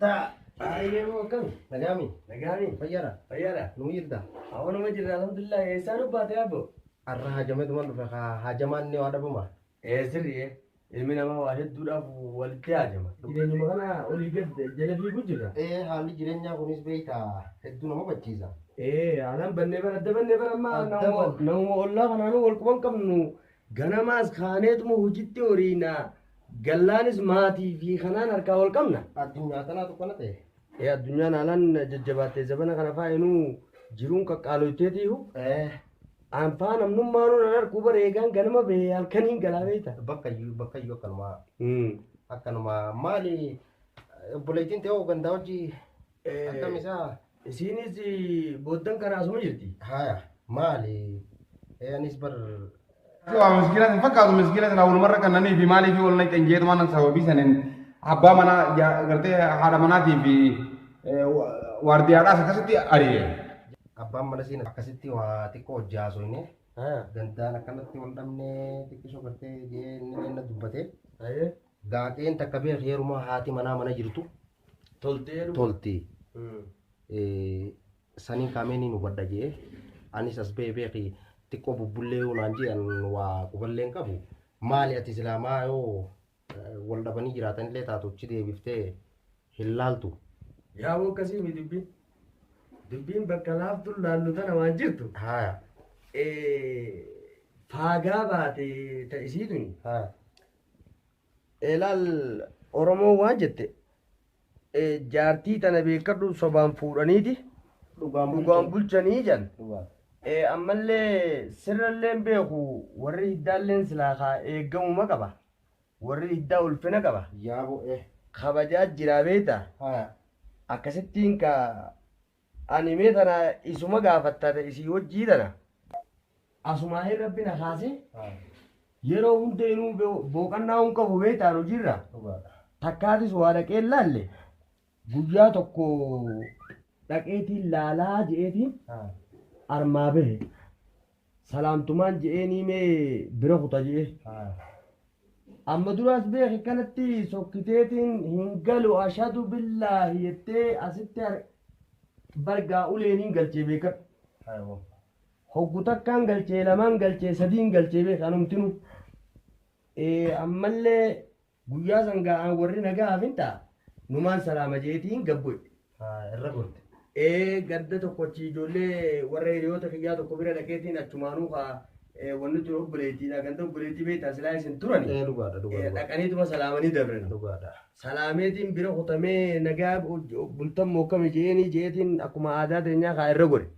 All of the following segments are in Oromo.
Taa. Baay'ee moo akkam? Nagaami. Nagaami. Fayyara. Fayyara. Nuu jirta. Hawanuma jirra alhamdulillah eessaan ubbaate abbo. Arra hajameetuma dhufe haa hajamaan ni waa dhabuma. Ee sirri'ee ilmi namaa waa hedduudhaaf walitti haajama. Jireenyuma kana olii gad jala fiiguu jirra. Ee haalli jireenyaa kunis beekta hedduu nama bachiisa. Ee haalaan bannee bara adda bannee bara ammaa Adda namuma banne. namuma ollaa kanaanuu wal quban qabnu Ganamaas kaaneetuma hojitti horiina. Gallaanis maatii fi kanaan harkaa wal qabna. Addunyaa tanaa tokko na ta'e. Ee addunyaan haalaan jajjabaattee zabana kana faayinuu jiruun qaqqaaloyteetiihu. Eh, Anfaa namnummaanuu nan harkuu bareegaan ganama bahee halkaniin galaa beekta. bakka iyyuu bakka iyyuu akkanumaa akkanumaa maali obboleettiin ta'oo gandaa hojii Akkam isaa? Isiinis booddan kana asuma jirti. Haya maali? Ee anis bar Waa miskiina sin fakkaatu miskiina sin awwalumarra kan nanii fi maalii fi wal naqxan jeetu mana sababii sanin abbaa manaa ja- gartee haadha manaatii fi waardiyaadhaas akkasitti ari'e. abbaan mana siin akkasitti waa xiqqoo hojjaa haasofne Haya. gandaan akkanatti wal dhabne xiqqisoo gartee jee inni inni dubbate Ayee. gaaqeen takka beek heerumaa haati manaa mana jirtu Toltee dhuma. tolti Mm. Eh, saniin kaameenii nu badha jee anis as bee beeki xiqqoo bubbullee yoo naan jee an waa quballee hin qabu maali ati islaamaa yoo eh, wal dhabanii jiraatanillee taatu achi deebiftee hin laaltu Yaa waan akkasii mi dubbiin. Dubbiin bakka laaftuun laallu tana waan jirtu. haya eh, Faagaa baate ta isii tuni. haya Elaal Oromoon waan jette jaartii tana beekadhu sobaan fuudhaniiti dhugaan bulchanii jedhan. Ammallee sirralleen beeku warri hiddaalleen silaa kaa eeggamuma qaba. Warri hiddaa ulfina qaba. Kabajaa jiraa beekta. Akkasittiin ka Ani mee tana isuma gaafatta ta isii hojjii tana. Asumaa'ee rabbi na kaasee yeroo hunda inuu bo- booqannaa hin qabu beektaan hojiirra takkaatis waa dhaqee hin laalle guyyaa tokko dhaqeetiin laalaa je'eetiin armaa bahe. salaamtumaan je'eenii mee bira kuta je'e. Amma duraas beeki kanatti sokkiteetiin hin galu ashadu billaahi jettee asitti har- bargaa uleeniin galchee beekadhu. Hoggu takkaan galchee lamaan galchee sadiin galchee beeka anumtinu. Eh, Ammallee Guyyaa san ga'aan warri nagaa hafinta numaan salaama jeetiin gabboy. irra gorte. Ee gadda tokko achi ijoollee warra hiriyoota kiyyaa tokko bira dhaqeetiin achumaanuu kaa wanni tun obboleettiidha ganda obboleettii beektaa silaa isin turani. Ee dhugaadha dhugaadha. Dhaqaniituma salaamanii dabran. Dhugaadha. Salaameetiin bira kutamee nagaa bultammoo akkami je'eenii je'eetiin akkuma aadaa teenyaa kaa irra gore.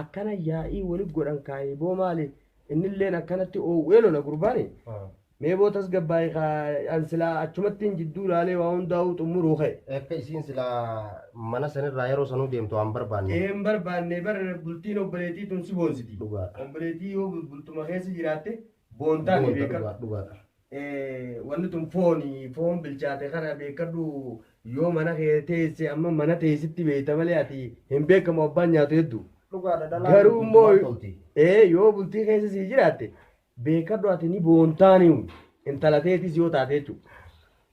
Akkana yaa'ii wali godhan kaa eeboo maali innilleen akkanatti oowwee lola gurbaani. Mee boo tasgabbaa'i kaa an silaa achumattiin jidduu laalee waa hundaa'uu xummuruu ka'e. Akka isiin silaa mana sanirraa yeroo sanuu deemtu waan barbaanne. Ee hin barbaanne bar bultiin obboleetii tun si boonsiti. Dhugaadha. Obboleetii yoo bultuma keessa jiraatte Boontaa ni Boonta beeka. dhugaa dhugaa dha. Eh, wanni tun fooni foon bilchaate kana beekadhu yoo mana kee teesse amma mana teessitti beekta malee ati hin beekamu abbaan nyaatu heddu Dhugaadha dhalaan. garuu immoo Bultumaa tolti. ee yoo bultii keessa sii jiraatte beekadhu ati ni boontaaniu intala teetis yoo taate jechuudha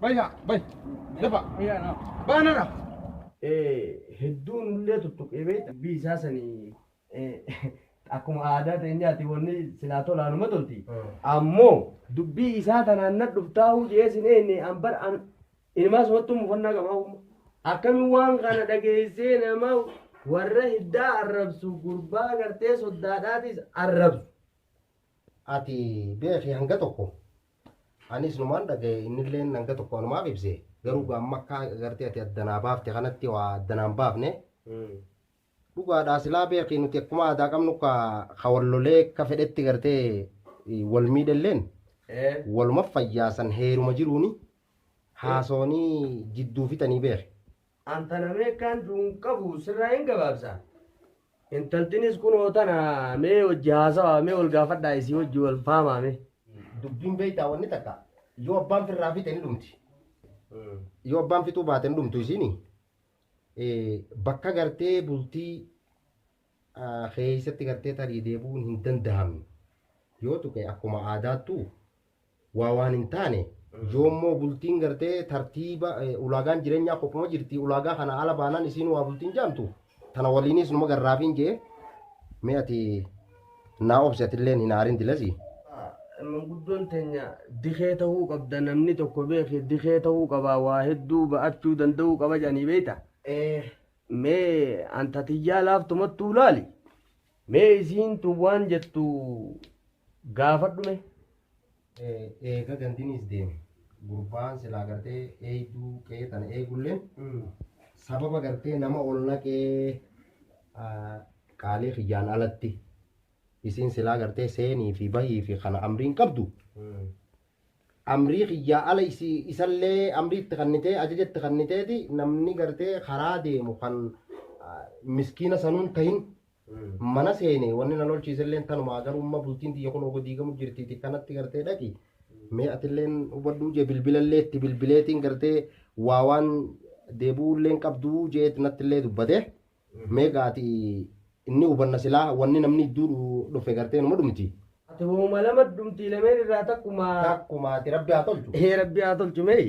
Bayya, bay, dafa, baanara. Hedduun illee tuttuqee beekta. Dubbii isaa sanii akkuma aadaa teenyaati wanni silaa tolaanuma tolti. Ammoo dubbii isaa tanaan na dhuftaahuu jedhee sin eenne an bar an ilmaa sumattuu mufannaa qabaa humna. Akkami waan kana dhageessee nama warra hiddaa arrabsu gurbaa gartee soddaadhaatis arrabsu. Ati beeki hanga tokko Anis numaan dhagaye innilleen hanga tokko anumaaf ibse garuu gaa amma akka agartee ati adda naa baafte kanatti waa adda naan baafne dhugaadhaa silaa beekii nuti akkuma aadaa qabnu ka ka wal lolee akka fedhetti gartee eh, wal miidhelleen waluma fayyaasan heeruma jiruuni haasoonii jidduu fixanii beeke. An tana meekkaan duun qabu sirraa hin gabaabsa. Intaltinis kunoo tana mee hojji haasawaa mee wal gaafadhaa isii hojji wal faamaa mee. Dubbiin beektaa wanni takka yoo abbaan firraa fixe ni dhumti. Yoo abbaan fixuu baate ni dhumtu isiini. Bakka gartee bultii keessatti gartee tarii deebi'uun hin danda'amne. Yoo tuqe akkuma aadaattuu waa waan hin taane yoommoo bultiin gartee tartiiba ulaagaan jireenyaa kophuma jirti ulaagaa kana ala baanaan isiin waa bultiin jaamtu tana waliinis numa garraafiin jee mee ati naa obsi atilleen hin aarin dilasi manguddoon teenya dikee ta'uu qabda namni tokko beeke dikee ta'uu qaba waa hedduu ba'achuu danda'uu qaba jedhanii beekta mee anta tiyyaa laaftumattuu laali Mee isiin tun waan jettu gaafadhu mee. Eega gandiniis deeme gurbaan silaa gartee eeyduu qe'ee tana eegulleen sababa gartee nama ol naqee qaalii kiyyaan alatti isiin silaa gartee seenii fi bahii fi kana amriin qabdu amrii kiyyaa ala isii isallee amrii itti kannitee ajaja itti kanniteeti namni gartee karaa deemu kan ah, miskiina sanuun tahin mana seene wanni na lolchiiselleen tanumaa garumma bultiin tiyya kun ogo diigamu jirtiiti kanatti gartee dhaqi mee atilleen hubadhuu jee bilbilallee itti bilbileetiin gartee waa waan deebuulleen qabduu jeet nattillee dubbate Mee gaa ati inni hubanna silaa wanni namni idduu dhufe gartee numa dhumti. Ati wauma lama dhumti lameen irraa takkuma. Takkuma ati rabbi haa tolchu. Ee rabbi haa tolchu mee.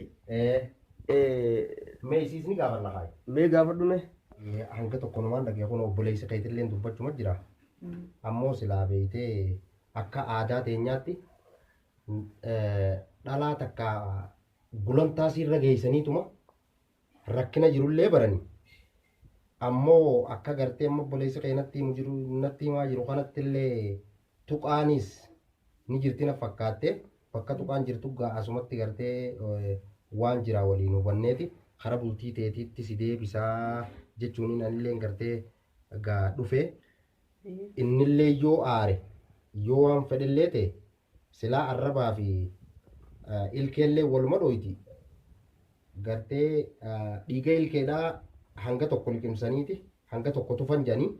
Mee isiis ni gaafanna haay. Mee gaafadhu mee. Hanga tokko numaan dhagee kun obboleessi keetilleen dubbachuma jira. Ammoo silaa beeytee akka aadaa teenyaatti dhalaa takka gulantaa siirra geeysaniituma. rakkina jirullee barani ammoo akka gartee amma obboleessi kee natti himu jiru natti himaa jiru kanatti illee tuqaanis ni jirti na fakkaatte bakka tuqaan jirtu gaa asumatti gartee eh, waan jiraa waliin hubanneeti kara bultii teetiitti si deebisaa jechuun anillee gartee gaa dhufee innillee yoo aare yoo waan fedhellee ta'e Silaa arrabaa fi ilkeellee waluma dhooyti. Gartee dhiiga ilkeedhaa hanga tokko liqimsaniiti hanga tokko tufan jedhanii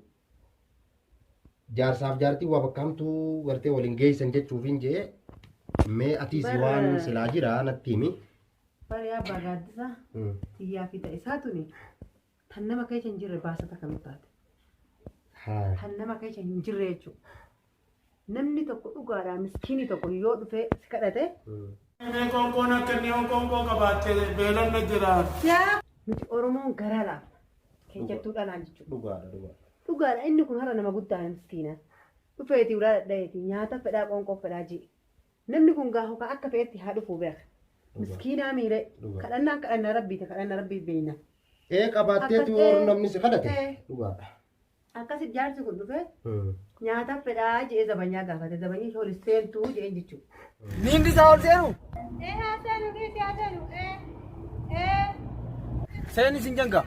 jaarsaaf jaartii waa bakka hamtuu gartee waliin geessan jechuufiin jee mee atiis Bara- waan silaa jira natti himi. Bari abbaa gaaddisa Mm. tiyyaa fi ta'isaa tuni Tan nama keessa hin jirre baasa takka nu taate. Haa. Tan nama keessa hin jirre jechuudha. Namni tokko dhugaadhaa miskiinii tokko yoo dhufee si kadhate Mm. Mee qoonqoon akka inni yoo qoonqoo qabaatte beelanna jira. nuti Oromoon garaa laafna. Keessattuu dhalaan jechuudha. Dhugaadha dhugaadha. Dhugaadha inni kun har'a nama guddaadha miskiina. Dhufeetii ulaa dhadhayeeti nyaata fedhaa qoonqoo fedhaa ji'i. Namni kun gaa hokaa akka fe'etti haa dhufuu beeka. Dhugaa. Miskiinaa miiree. Dhugaa. Kadhannaan kadhannaa rabbiiti kadhannaa rabbii beeyna. Ee qabaatteetu Akkas- warri namni si kadhate. Ee. Dhugaadha. Akkasi jaarsi kun dhufee Hmm. nyaata fedhaa je'ee zabanyaa gaafate zabanyii ishee ol seentuu je'een jechuudha. Miilli isaa ol seenu. Ee haa seenu dhiisi haa seenu ee ee. Seeni sin jenga.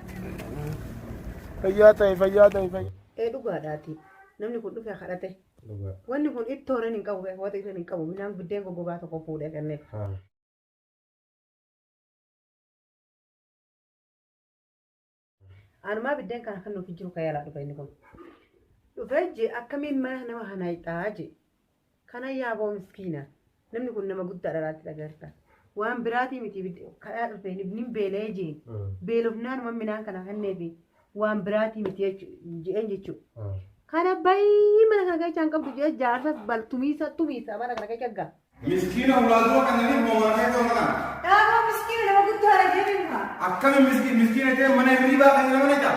Fayyaa ta'e fayyaa ta'e fayyaa. Ee dhugaadhaati namni kun dhufee kadhate. Dhugaa. Wanni kun ittoo irra hin qabu beeku wata irra hin qabu midhaan biddeen goggogaa tokko fuudhee kennee. Haa. Anumaa biddeen kana kan nuuf jiru kayaalaa dhufe inni kun. Dhufee je akkamiin mana nama hanayxaa je. Kana yaaboo miskiina. Namni kun nama guddaa dhalaatti dhagarta. Waan biraatii miti kadhaa dhufee nin beela'ee jee beelofnaan waan midhaan kana kenneefi waan biraatii miti jeen jechuudha. Kana baay'ee mana kana keessa hin qabdu jee jaarsa baltumiisa tumiisa mana kana keessa gaa. Miskiina hulaatuma kana ni moomaatee ta'u kana. Dhaabaa miskiina nama guddaa dhageebiin kaa. Akkami miskiina ta'e mana hirriibaa kan nama naqaa?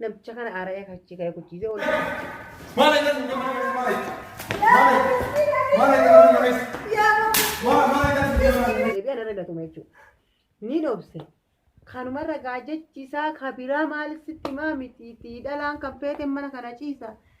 Namicha kana aara'ee kan achii ka'e guchiisee ol Mana kan nama nama mana. Mana mana kan nama nama. Mana mana kan nama nama. deebi'an irra gatuma jechuudha. Ni dhoobse. Kanuma ragaa jechisaa kabiraa maal sitti maa mitiitii dhalaan kan feete mana kana ciisa.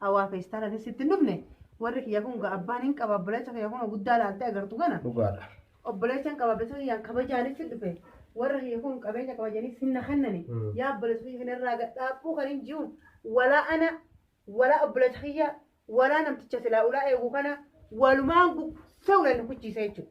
Awaa feestaan ati sitti hin dhufne warri kiyya kun ga abbaan hin qaba obboleessa kiyya kun guddaa laaltee agartu kana dhugaadha. obboleessa hin qaba obboleessa kiyyaan kabajaanis hin dhufe warra kiyya kun qabeenya kabajanis hin na kennani Mm. yaa obboleessa kiyya kana irraa gad dhaabbuu kan hin jiru walaa ana walaa obboleessa kiyya walaa namticha silaa ulaa eegu kana walumaan gugsee ulaan na kuchiisa jechuudha.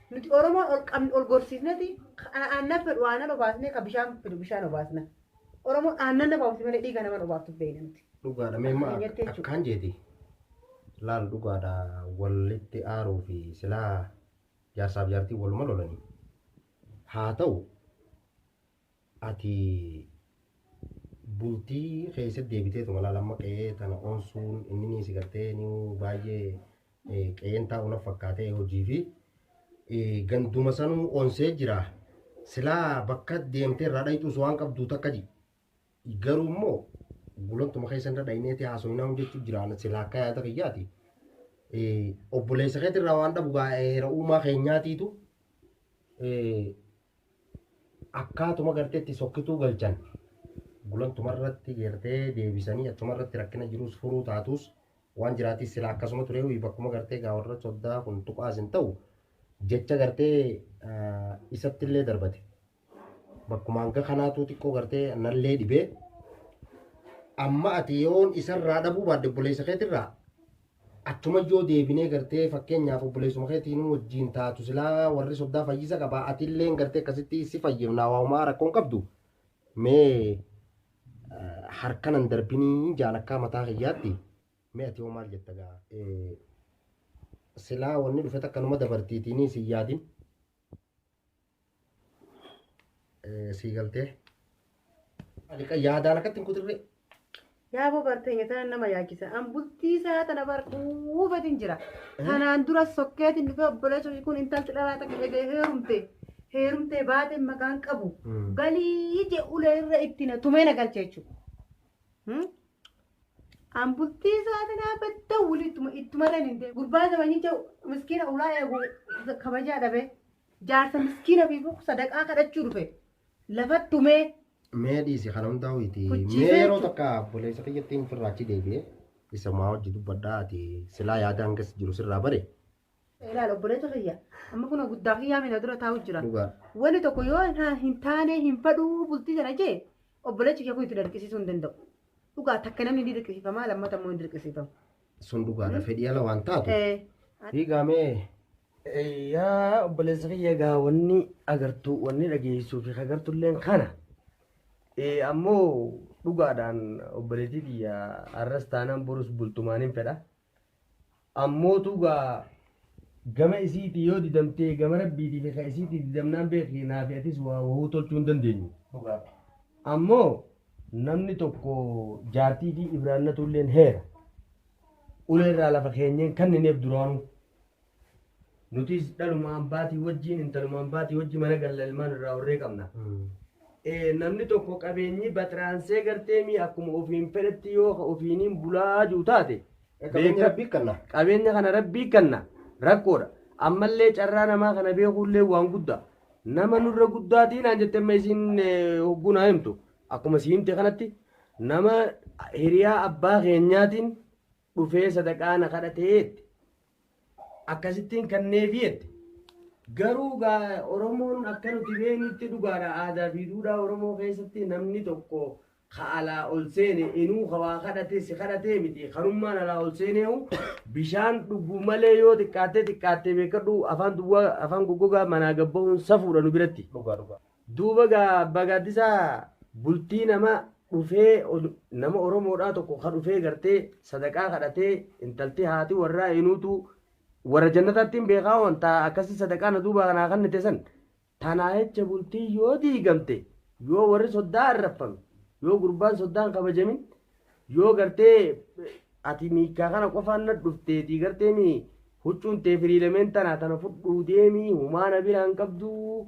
Nuti Oromoon ol qabn ol gorsiisneti ka aannan fedhu aannan obaasnee ka bishaan fedhu bishaan obaasna. Oromoon aannan nama obaafti malee dhiiga nama hin obaaftu beekna nuti. Dhugaadha mee Akka amma keenyatti ak- jechuudha. akkaan jeeti laal dhugaadha walitti aaruu fi silaa jaarsaaf jaartii waluma lolanii haa ta'u Ati bultii keessa deebiteetuma laal amma qe'ee tana onsuun inni si gartee ni baay'ee qe'een taa'u na fakkaatee hojii fi ganduma sanuu onsee jira. Silaa bakka deemtee irraa dhayxuus waan qabduu takka ji. Garuu immoo gulantuma keessa irra dhayneeti haasoinaa hojjechuu jiraan silaa akka yaada kiyyaati. Obboleessa keetirraa waan dhabu gaa'eera uumaa keenyaatiitu Akkaatuma gartee itti sokkituu galchan gulantuma irratti gartee deebisanii achuma irratti rakkina jiruus furuu taatuus waan jiraatis sila akkasuma turee wii bakkuma gartee gaa warra soddaa kun tuqaas hin ta'u jecha gartee isatti illee darbate bakkuma hanga kanaatuu xiqqoo gartee nallee dhibee amma ati yoon isarraa dhabuu baadde obboleessa keetirraa Achuma yoo deebinee gartee fakkeenyaaf obboleessuma keetii nu wajjiin taatu silaa warri soddaa fayyisa qabaa atilleen gartee akkasitti si fayyifnaa waamaa rakkoon qabdu mee harkanan darbinii jaan akkaa mataa kiyyaatti mee ati hoo maal jetta gaa silaa wanni dhufet akkanuma dabartiitiinii si yaadin sii galtee aliqa yaadaan akkatti hin kutirree Yaa boo barteenya tana nama yaachisa. An bultii isaa tana bar dhuufatiin jira. Tanaan dura sokkeetiin dhufee obboleessa ishee kun intalti dhalaa takka eegee heerumte. Heerumtee baatee maqaan qabu. Balii je ulee irra itti na tumee na galche jechuudha. Hmm? An bultii isaa tanaa badda wuli ittuma ittuma irra hin deemu. Gurbaa zamanii jau miskiina ulaa eegu kabajaa dhabee. Jaarsa miskiina fiifuu sadaqaa kadhachuu dhufe lafatti tumee. Mee dhiisi kana hundaa ho'iiti. Kuchiisee Mee yeroo jechuudha. takka obboleessa kiyyattiin firraa achi deebi'ee isa maa hojii dubbadhaa ati silaa yaada hangas jiru sirraa bare Ilaal obboleessa kiyya amma kun guddaa kiyyaa miila dura taa'u jira. dhugaa. Wani tokko yoo hin- hin taane hin fadhuu bultii sana jee obboleessi kiyya kun itti dirqisiisuu hin danda'u. Dhugaa takka namni ni dirqisiifama lammata immoo hin dirqisiifamu. Sun dhugaadha fedhii ala waan taatu. Eh, Fiigaa mee Yaa obboleessa kiyya egaa wanni agartu wanni dhageessuu fi agartu illeen kana. Eh, Ammoo dhugaadhaan obboleettii tiyya har'as taanaan borus bultumaan hin fedha. Ammoo tugaa gama isiitii yoo didamtee gama rabbiitii fi ka isiitii didamnaan beekii naa fi atis waa wahuu tolchuu hin dandeenyu. Dhugaa. Ammoo namni tokko jaartii fi ibraannatu illeen heera. Ulee irraa lafa keenyeen kannineef duraanuu. Nutis dhaluma ambaatii wajjin intaluma ambaatii wajjin mana galla ilmaan irraa horree qabna. Eh, Namni tokko qabeenyi baxiraansee gartee mii akkuma ofiin fedhetti yoo ka ofiiniin bulaa jiru taate Qabeenya beeka- rabbii kanna. qabeenya kana rabbii kanna rakkoodha. Ammallee carraa namaa kana beekuullee waan guddaa. Nama nurra guddaatiin aan jettee amma isiin eh, hogguu naa himtu akkuma si himte kanatti nama hiriyaa abbaa keenyaatiin dhufee sadaqaa na kadhatee jette. Akkasittiin kanneefi jette. Garuu gaa Oromoon akka nuti beeknutti dhugaadha aadaa fi duudhaa Oromoo keessatti namni tokko ka alaa ol seene inuu ka waa kadhate si kadhatee miti kanummaan alaa ol seeneehu bishaan dhuguu malee yoo xiqqaattee xiqqaattee beekadhu afaan duwwaa afaan goggogaa manaa gabbahuun safuudha nu biratti. Dhugaa dhugaa. Duuba gaa Abbaa Gaaddisaa bultii nama dhufee nama Oromoodhaa tokko ka dhufee gartee sadaqaa kadhatee intalti haati warraa eenuutu warra jannataatti hin beekaa waan taa akkasii sadaqaa na duubaa kanaa kannite san tanaa jecha bultii yoo diigamte yoo warri soddaa arraffame yoo gurbaan soddaan kabajamin yoo gartee ati miikaa kana qofaan na dhufteetii gartee mii huccuun tee firiilameen tanaa tana fudhuu deemii humaa na biraan qabduu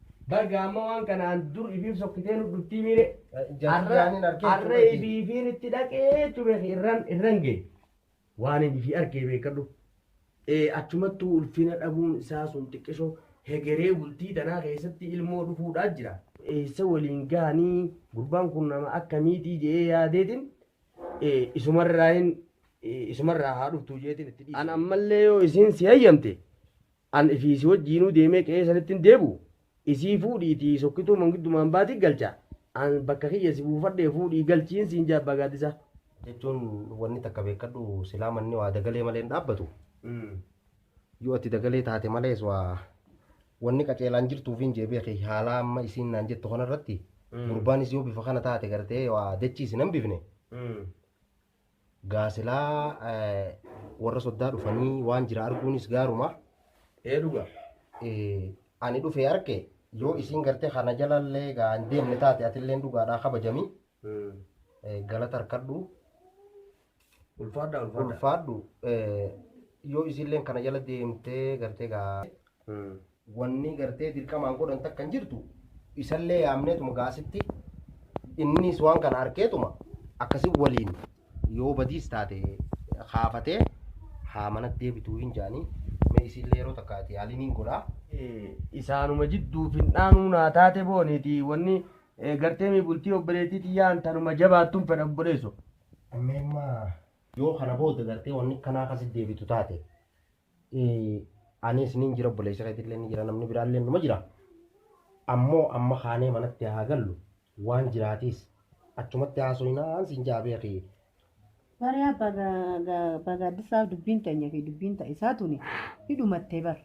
Bar gaamma waan kanaan dur ibiif sokkitee nu dhuftii miire. Jaziyaanin arkee Arra cubeeti. ibiifiin itti dhaqee cube irran irran gee. Waan hin ifi arkee beekadhu. Ee achumattuu ulfina dhabuun isaa sun xiqqisho hegeree bultii tanaa keessatti ilmoo dhufuudhaa jira. Eessa waliin gahanii gurbaan kun nama akkamiitii jedhee yaadeetiin ee, isumarraa hin ee, isumarraa haa dhuftuu jeetiin itti dhiise. An ammallee yoo isiin si hayyamte An ifii si wajjiinuu deemee qe'ee sanitti hin deebi'u, isii fuudhiitii sokkituu mangiddu maambaati galcha, an bakka kiyya si buufadhee fuudhii galchiin siin jedha Abbaa Gaaddisaa. Jechuun wanni takka beekkadhu silaa manni waa dagalee malee hin dhaabbatu. Yoo ati dagalee taate malees waa wanni qaceelaan jirtuufiin jee beeki haalaa amma isiin naan jettu kanarratti gurbaanis yoo bifa kana taate gartee waa dachii isin hambifne Gaa silaa warra soddaa dhufanii waan jira arguunis gaaruma. Ee dhuga. Ani dhufee arke yoo isiin gartee kana jalallee gaa hin deemne taate atilleen dhugaadhaa kabajami. Galata harkadhu. Ulfaadha ulfaadha. Ulfaadhu. Yoo isiilleen kana jala deemtee gartee gaa Wanni gartee dirqamaan godhan takka hin jirtu isallee yaamneetuma gaa asitti innis waan kana arkeetuma akkasi waliin yoo badiis taate kaafatee haa manatti deebituu hin jaanii mee isillee yeroo takka ati yaaliin hin godhaa. Isaanuma jidduu fin'aanuu naa taate booniiti wanni gartee mi bultii obboleettii tiyyaan tanuma jabaattuun fedha obboleesso. Meemmaa yoo kana booda gartee wanni kanaa akkasi deebitu taate Anis nin jira obboleessi keetillee ni jira namni biraallee numa jira. Ammoo amma kaanee manatti haa gallu waan jiraatiis achumatti haasoyinaan siin ja'a beeki. Bariyaa baga ga- baga addisaaf dubbiin teenya fi dubbiin ta isaa tuni ni dhumattee bar.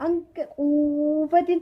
Hanga quufatin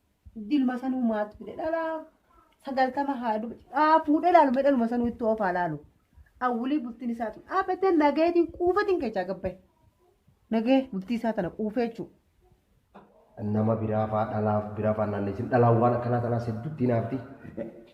Dilma sanuu maatu fide dhalaa sagaltama haa duba haa fuudhee laalu mee dhaluma sanuu itti oofaa laalu. Awwulii bultiin isaa tun dhaabbattee nageetiin quufatiin keechaa gabbaye. Nagee bultii isaa tana quufee jechuudha. Nama biraa faa dhalaaf bira faa naanneessin dhalaan waan akkanaa tanaas hedduutti hinaafti.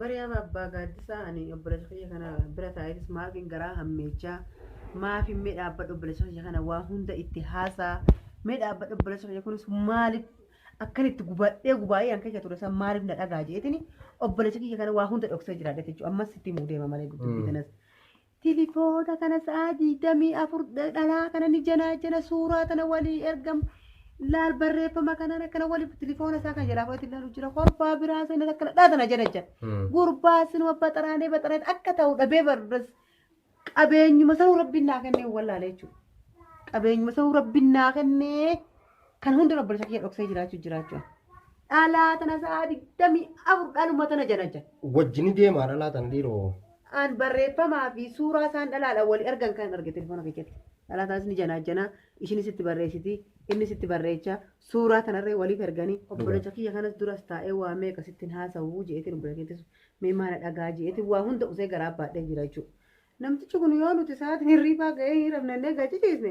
Bari'aa Abbaa Gaaddisaa ani obboleessa kiyya kana bira taa'eetis maafin garaa hammeechaa maafin mee dhaabbadha obboleessa kiyya kana waa hunda itti haasaa mee dhaabbadha obboleessa kiyya kunis maaliif akkan itti gubadhee gubaa'ee an keessa ture san maaliif na dhagaa jeetini obboleessa kiyya kana waa hunda dhoksee jiraadha jechuudha ammas itti himuu deema malee dubbii kanas Tilifoona kana sa'aa digdamii afur dhalaa kana ni janaajana suuraa tana walii ergam laal barreeffama kanaan akkana wali tilifoona isaa kan jalaa fudhate ilaalu jira kolfaa biraa seenan akkana dhaa tana jana jira gurbaa sinuma baxaraanee baxaraanee akka ta'u dhabee barres qabeenyuma sanuu rabbiin naa kennee wallaalee jechuudha qabeenyuma sanuu rabbiin naa kennee Kan hunda obboleessa kiyya dhoksee jiraachuu jiraachuu. Dhalaa tana sa'a digdamii afur dhaluma tana janaja. Wajjini deemaa dhalaa tana dhiiroo. An barreeffamaa fi suuraa isaan dhalaadhaan walii argan kan arge telefoona keessatti. Dhalaa tanas ni janaajjanaa, ishinis itti barreessiti, innis itti barreecha, suuraa tanarree waliif erganii obboleessa kiyya kanas duras taa'ee waa meeqa sittin haasa'u je'eetiin obboleessa kiyya teessu mee maana dhagaa je'eetiin waa hunda usee garaa baadhee jira jechuudha. Namtichi kun yoo nuti sa'aatiin hirriibaa ga'ee hin rafne illee gaciciisne.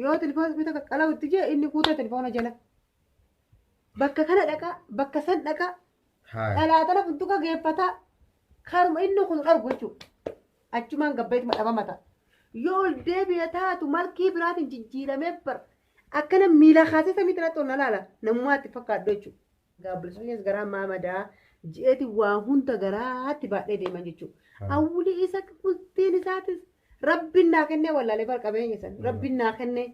Yoo telefoona kutaa qaqqalawu itti jee inni kuuta telefoona jala. Bakka kana dhaqaa, bakka san dhaqaa, Haaya. dhalaa tana funtuka geeffataa, karuma inni kun dhargu jechuudha. Achumaan gabbeetuma dhabama ta'a. Yoo ol deebi'e taatu malkii biraatiin jijjiiramee bar. Akkana miila kaasee samii tanatti ol na laala. Namumaatti fakkaadhu jechuudha. Gaabbilsonyees garaa maa madaa ji'eeti waa hunda garaatti baadhee deeman jechuudha. Hawwulii isa bultiin isaatis rabbiin naa kennee wallaalee bar qabeenya san rabbiin naa kennee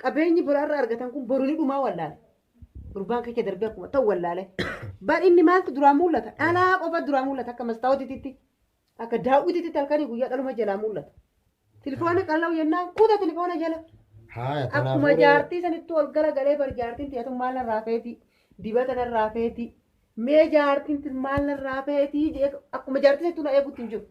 qabeenyi biraarra argatan kun boru ni dhumaa wallaale. Gurbaan kecha darbee akkuma ta'u wallaale. Bar inni maaltu duraa mul'ata? Dhalaa qofa duraa mul'ata akka mastaawotitti. Akka daawwititti halkanii guyyaa dhaluma jalaa mul'ata. Tilifoona qal'au jennaan kuta tilifoona jala. Haaya Akkuma kanaafuu jaartii sanittuu ol gara galee bar jaartiin tiyatu maal narraa feetii dibata narraa feetii mee jaartiin tun maal narraa feetii jee akkuma jaartii sanittuu na eegutti hin jiru.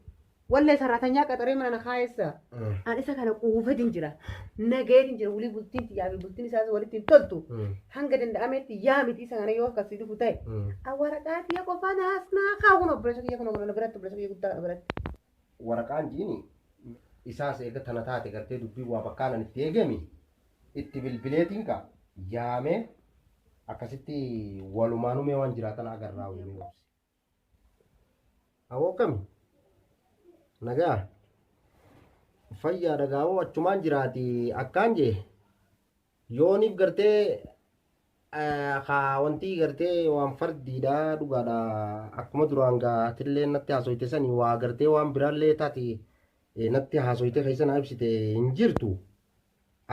Wallee saraatanyaa qaxaree mana na kaayessa. Mm. An isa kana quufetin jira. Nageetin jira. Wulii bultiin tiyyaa fi bultiin isaas walitti hin toltu. Mm. Hanga danda'ametti yaa miti isa kana yoo akkasii dhufu ta'e. Mm. An waraqaa tiyya qofaan haasnaa kaa kun obboleessa kiyya kun obboleessa biratti obboleessa kiyya guddaa kana biratti. Waraqaan jiini isaas eega tana taate gartee dubbii waa bakkaanan itti eegemi itti bilbileetiin ka yaamee akkasitti walumaanumee waan jiraatan agarraa waliin obsi. Awoo kami? Nagaa? Fayyaa dhagaa'oo achumaan jiraati akkaan jee yooniif gartee haa wantii gartee waan fardiidha dhugaadha akkuma duraan gaatillee natti haasoyte sanii waa gartee waan biraallee taati natti haasoyte keessa naa ibsite hin jirtu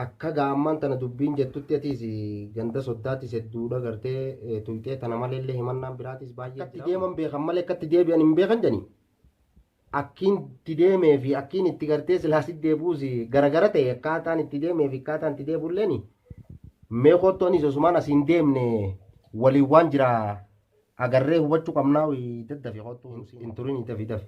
Akka gaamman tana dubbiin jettutti atiis ganda soddaatiis hedduudha gartee tuyxee tana maleellee himannaan biraatiis baay'ee jira. Akkatti deeman beekan malee akkatti deebi'an hin beekan jedhani. Akkiin itti deemee fi akkiin itti gartee silaas itti deebi'uus garagara ta'e akkaataan itti deemee fi akkaataan itti deebi'ulleen mee kottu anis osumaan asiin deemne waliin waan jira agarree hubachuu qabnaa daddafi kottu hin turin dafi dafi.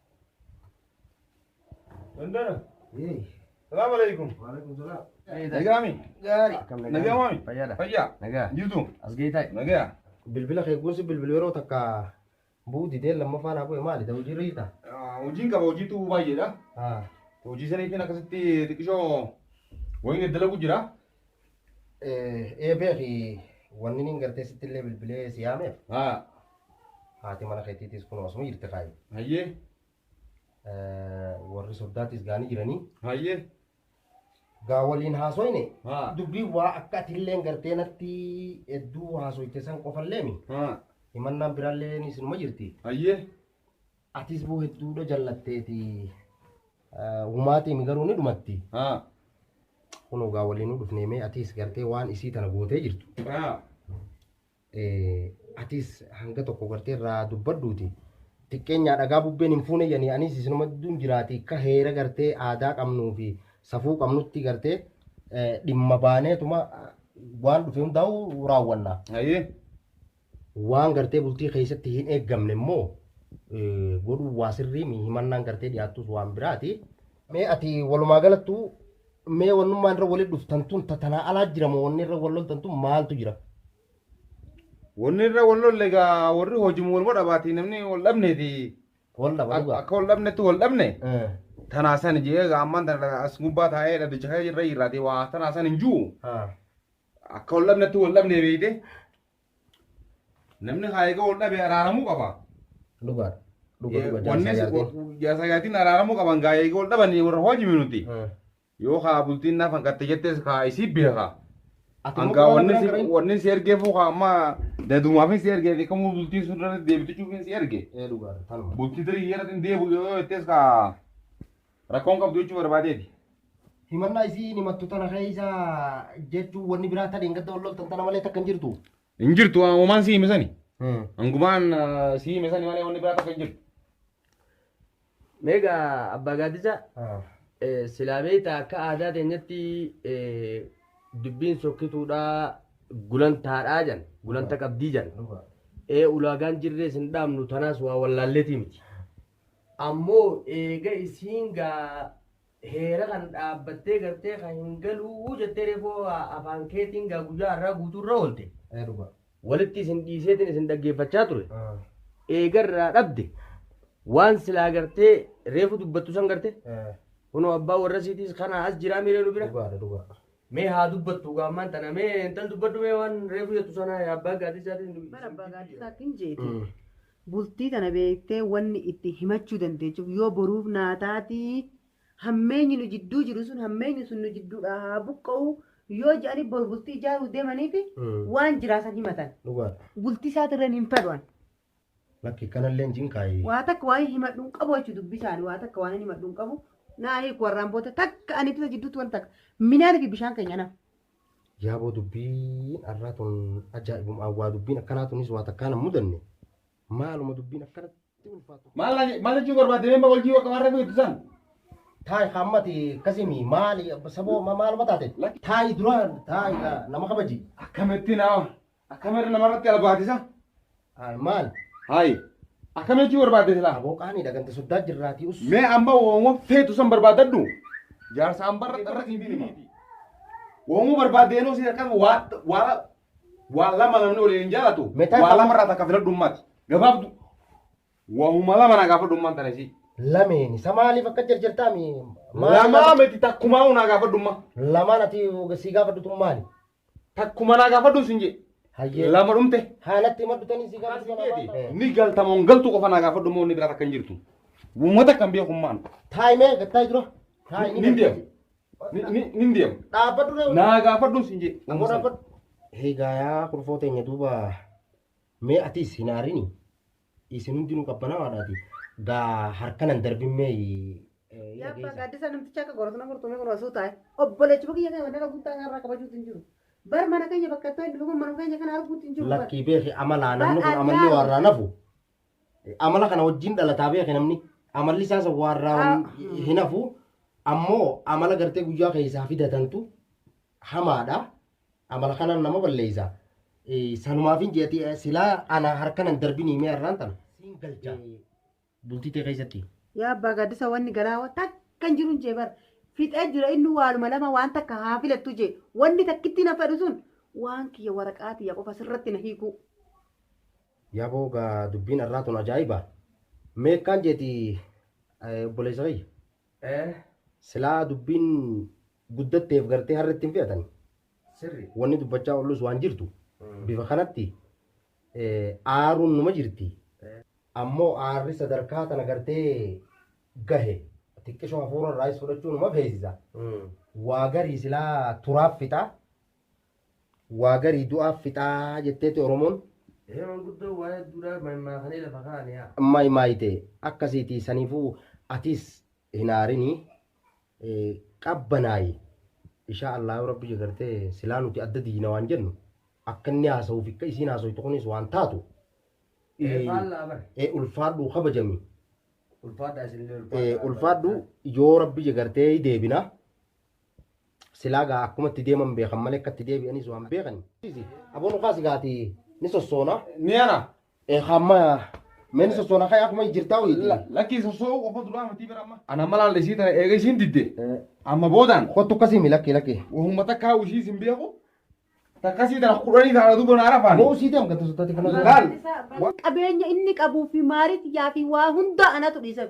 Dandana. Salaam alaikum. Nagaami. Nagaami. Fayyaadha. Fayyaa. Nagaa. Jirtu. As geetaay. Nagaa. Bilbila kee kuusi bilbila yeroo takka bu'u didee lammaffaa naa bu'e maali ta'u hojii irra jirta? Hojiin qaba hojiitu baay'eedha. Hojii saniitiin akkasitti xiqqishoo wayii dalaguu jira. Ee beeki wanni niin gartee sitti illee bilbilee si yaameef Haa. haati mana keetiitis kun osuma jirti kaayi. Hayyee. Warri soddaatis gaanii jiranii. Hayyee. Gaa waliin haasoyne Haa. dubbii waa akka ati illee gartee natti hedduu haasoyte san qofallee mi Haa. himannaan biraallee isinuma jirti. Hayyee. Atis boo hedduudha jallatteeti. Humaatiimi garuu ni dhumatti. Haa. Kun ogaa waliinuu dhufnee mee atis gartee waan isii tana gootee jirtu. Haa. Atis hanga tokko gartee irraa dubbadduuti. Xiqqeenyaa dhagaa bubbeen hin fuune janii anis isinuma duun jiraati akka heera gartee aadaa qabnuu fi safuu qabnutti gartee dhimma baaneetuma waan dhufe hundaa'u raawwanna. Hayyee. Waan gartee bultii keessatti hin eeggamne immoo godhuun waa sirrii mi himannaan gartee dhiyaattus waan biraati. Mee ati walumaa galattu mee wannummaan irra walitti dhuftan tun tatanaa alaa jira moo wanni irra wal loltan tun maaltu jira? Wanni irra wal lolle egaa warri hojimu waluma dhabaati namni wal dhabneeti. Wal dhaba dhugaa. Akka wal dhabnetti wal dhabne tanaa san jee egaa ammaan tana as gubbaa taa'ee dhaddacha irra irraatee waa tanaa san hin jiru. Akka wal dhabnetti wal dhabne beeyte Namni haa egaa wal dhabe araaramuu qaba. Dhugaadha. Dhuga dhuga Wanni jaarsa jaartiin. jaarsa jaartiin araaramuu qaban gaa egaa wal dhabanii warra hojii nuti. Hmm. Yoo haa bultiin naaf hanqatte jettes haa isii beeka. Ati immoo Hangaa waan wanni biraa si garee? wanni si ergee fuukaa amma dadumaafin si ergee fi kamuu bultiin sun irratti deebitu cufiin si erge. Ee dhugaadha. Tanuma. Bultii tarii yeroo ittiin deebi'u yoo jettees kaa Rakkoon qabdu jechuu barbaadeeti. Himannaa isii hin himattu tana keessa jechuun wanni biraa tana hin gadda wal loltan tana malee takka hin jirtu. Hin jirtu waan homaan si hime sani. Hangumaan ah, si hime sani malee wanni biraa takka hin jirtu. Meeqa abbaa gaaddisaa Ah. eh, silaa beektaa akka aadaa teenyatti eh, dubbiin sokkituudhaa gulantaadhaa jan gulanta qabdii jan Dhugaa. ee ulaagaan jirrees hin dhaabnu tanaas waa wallaalleetii miti. Ammoo eega isiin gaa heera kana dhaabbattee gartee kan hin galuu jettee reefuu afaan keetiin gaa guyyaa har'aa guutuu irra oolte. Ee dhugaa. Walitti isin dhiiseetiin isin dhaggeeffachaa ture. Ah, Eega irraa dhabde waan silaa gartee reefu dubbattu san garte eh, kunoo abbaa warra isiitiis kanaa as jiraa miiree nu bira. Dhugaadha dhugaa. Mee haa dubbattu gaa ammaan tana mee intal dubbadhu mee waan reefu jettu sana yaa abbaa gaadisaatiin. Bara abbaa gaaddisaattiin jeeti. Mm. Bultii tana beektee wanni itti himachuu dandeechuuf yoo boruuf naa taatii hammeenyi nu jidduu jiru sun hammeenyi sun nu jidduudhaa haa buqqa'u yoo jedhanii bor bultii ijaaruu deemaniiti Mm. waan jiraasan himatan. Dhugaadha. Bultii isaatirreen hin fedhuan. Lakki kanalleen cinqaayi. Waa takka waan himadhu hin qabu jechuudha dubbisaan waa takka waan himadhu hin qabu. Naa hiiku warraan booda takka ani tisa jidduutti waan takka midhaan fi bishaan keenya naaf. Yaaboo dubbiin har'aa tun ajaa'ibuma awwaa dubbiin akkanaa tunis waa takkaan hin mudanne maaluma dubbiin akkanatti ulfaatu. Maal jechuu barbaadde mee wal jiwa qabaarra beektu san? Taayi hammati akkasimi maali saboo maaluma taate? Taayi dura taayi nama kabaji. Akkamitti nama? Akkamir namarratti albaatisa? Haay maal? Haay. Akkam jechuu barbaadde silaa? Aboo qaanii dhagante soddaa jirraatii us. Mee amma wooma feetu san barbaadadhu. Jaarsa ambarra irra siin hima. Wooma barbaadde yeroo siin akkana waa waa waa lama namni waliin hin jaalatu. Meetaa Waa qaba? lama irraa takka filadhu ummaati. Gabaabdu. Waahuma lama naa gaafadhu ummaan tana isii. Lameen isa maaliif akka jarjartaa mi? Lamaa miti takkumaa unaa gaafadhu ummaa. Lamaan ati sii gaafadhutu maali? Takkuma naa gaafadhu sin jee. Hayyee. Lama dhumte. Haalatti hima dhutanii si gaafatu sana waan ta'eef. Ni galtamoon galtu qofa naa gaafadhu moo inni biraa takka hin jirtu. Uummata kan beekummaan. Taa'imee gattaa dura. Taa'imee. Ni deemu. Ni- ni- Ni deemu. Dhaabbadhu reewu. Naa gaafadhu sin jee. Ammoo dhaabbadhu. Egaa yaa kurfoo teenya duuba mee atiis hin aarini. Isin hundinuu qabbanaawaadhaati. Gaa harka nan darbin mee Yaa abbaa gaaddisaa namticha akka goratu na gortu mee kun osoo taa'e. Obboleechi bukiyya kee wanna qabuu taa'e irraa kabajuutu hin jiru. Bar mana keenya bakka itti hin dhufuun mana keenya kana arguutu hin jiru. bar. lakkii beeki amalaa namni kun amalli waarraa nafu. Amala kana wajjin dhalataa beeki namni amalli isaa san waarraa hin hafu. Ammoo amala gartee guyyaa keessaa fidatantu hamaadha. Amala kanaan nama balleessa. Sanumaafin jeeti silaa ana harka nan darbinii mee har'aan tana. Siin galcha. Bultii tee keessatti. Yaa abbaa gaaddisa wanni garaa takka hin jiru jee bar. Fixee jira inni waaluma lama waan takka haa filattu jee. Wanni takkittiin na fedhu sun waan kiyya waraqaa tiyya qofa sirratti na hiikuu. Yaboo gaa dubbiin har'aa tun ajaa'iba. Mee akkaan jeeti obboleessa kiyya. Ee. Silaa dubbiin guddatteef gartee har'a ittiin fe'atan wanni dubbachaa ollus waan jirtu bifa kanatti aaruun numa jirti ammoo aarri sadarkaa tana gartee gahe xiqqishoo hafuura irraayis fudhachuu numa feesisa waa garii silaa turaaf fixaa waa garii du'aaf fixaa jetteeti oromoon maaymaayite akkasiitii saniifuu atiis hin aarinii qabbanaayi ishaa allaahu rabbi jagartee silaa nuti adda diina waan jennu akka inni haasa'uuf akka isiin haasoytu kunis waan taatu ulfaadhu kabajami ulfaadhu yoo rabbi jagartee deebina silaa gaa akkumatti deeman beekan malee akkatti deebi'anis waan beekan aboon kaasi gaati ni sossoona ni ana Eekamma meen sosoona kee akkuma jirtaa ho'iiti. Lakkii sosoo qofa duraa matii bira amma. Ana malaan isii tana eega isiin didde. Amma boodaan. Kottu akkasii mi lakkii lakkii. Wahumma takkaa ishii isin beeku. Takkasii tana kudhanii taana duuba naara faani. Moo usii deem gata sotaati kana. Laal. Qabeenya inni qabuu fi maariit yaa fi waa hundaa anatu dhiiseef.